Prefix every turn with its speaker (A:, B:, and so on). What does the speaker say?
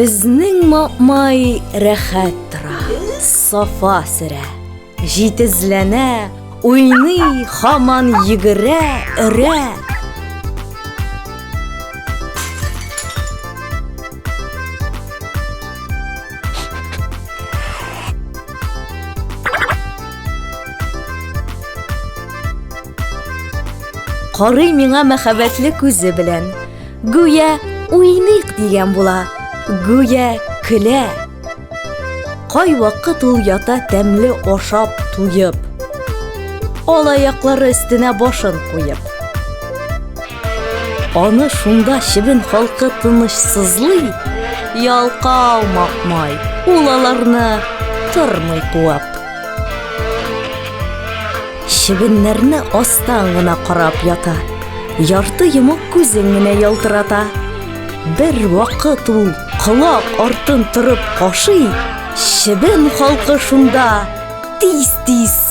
A: Безнең мамай рәхәт тора, сафа сөрә, җитезләнә, уйный, хаман йөгерә, өрә. Карый миңа мәхәббәтле күзе белән. Гүя уйныйк дигән була. Гүя көлә. Кай вакыт ул ята тәмле ашап туеп. Алаяклары өстенә башын куеп. Аны шунда чебен халкы тынычсызлый, ялкау макмай, ул аларны тормый куып. Чебеннәрне астан гына карап ята, ярты йомык күзен генә ялтырата. Бер вакыт ул колак артын торып кашый, чебен халкы шунда тиз-тиз